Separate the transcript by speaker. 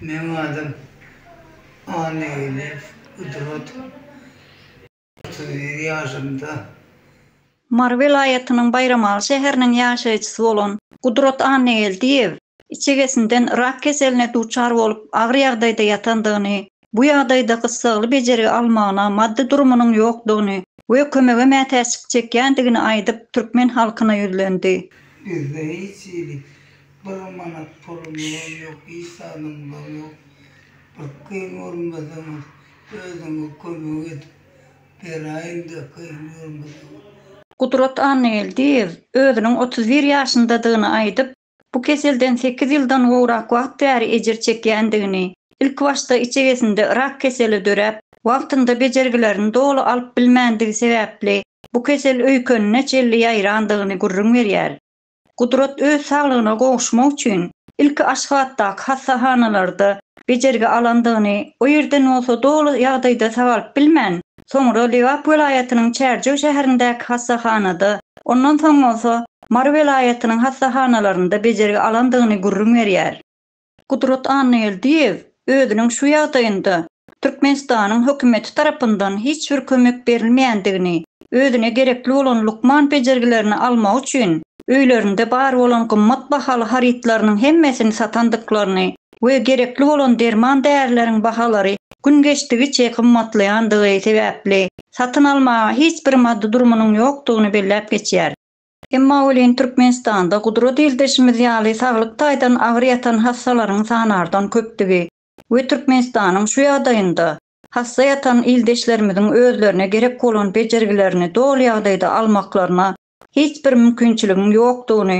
Speaker 1: Meň adym Annageldiýew Gudrat. Otuz bir ýaşymda.
Speaker 2: Mary welaýatynyň Baýramaly şäheriniň ýaşaýjysy bolan Gudrat Annageldiýew içegesinden rak keseline duçar bolup agyr ýagdaýda ýatandygyny Bu ýagdaýda gyssagly bejergi almagyna maddy durumynyň ýokdugyny we kömege mätäçlik çekýändigini aýdyp, türkmen halkyna ýüzlendi. Bizde hiç
Speaker 1: hili bir manat pulumyzam ýok, hiç zadymyzam ýok. Bir kyn görmeseňiz, özüňiz kömek edip beraýyň-da kyn görmeseňiz. Gudrat
Speaker 2: Annageldiýew özüniň otuz bir ýaşyndadygyny aýdyp, Bu keselden sekiz ýyldan gowrak wagt bäri ejir çekýändigini, ilkibaşda içegesinde rak keseli döräp, wagtynda bejergilerini doly alyp bilmändigi sebäpli bu kesel öýkenine çenli ýaýrandygyny gürrüň berýär. Gudrat öz saglygyna gowuşmak üçin ilki Aşgabatdaky hassahanalarda bejergi alandygyny, o ýerden bolsa doly ýagdaýda sagalyp bilmän, Soňra Lebap welaýatynyň Çärjew şäherindäki hassahanada, ondan soň bolsa Mary welaýatynyň hassahanalarynda bejergi alandygyny gürrüň berýär. Gudrat Annageldiýew özüniň şu ýagdaýynda Türkmenistanyň hökümeti tarapyndan hiç bir kömek berilmeýändigini, özüne gerekli bolan lukman bejergilerini almak üçin öýlerinde bar bolan gymmat bahaly harytlarynyň hemmesini satandyklaryny we gerekli bolan derman-därileriň bahalary gün geçdigiçe gymmatlaýandygy sebäpli, satyn almaga hiç bir maddy durumynyň ýokdugyny belläp geçýär. Emma welin Türkmenistanda gudura dildişimiz ýaly saglyk taýdan agyr ýatan hassalaryň sanardan köpdügi we Türkmenistanyň şu ýagdaýynda hassa ýatan ildeşlerimiziň özlerine gerek bolan bejergilerini doly ýagdaýda almaklaryna hiç bir mümkinçiligiň ýokdugyny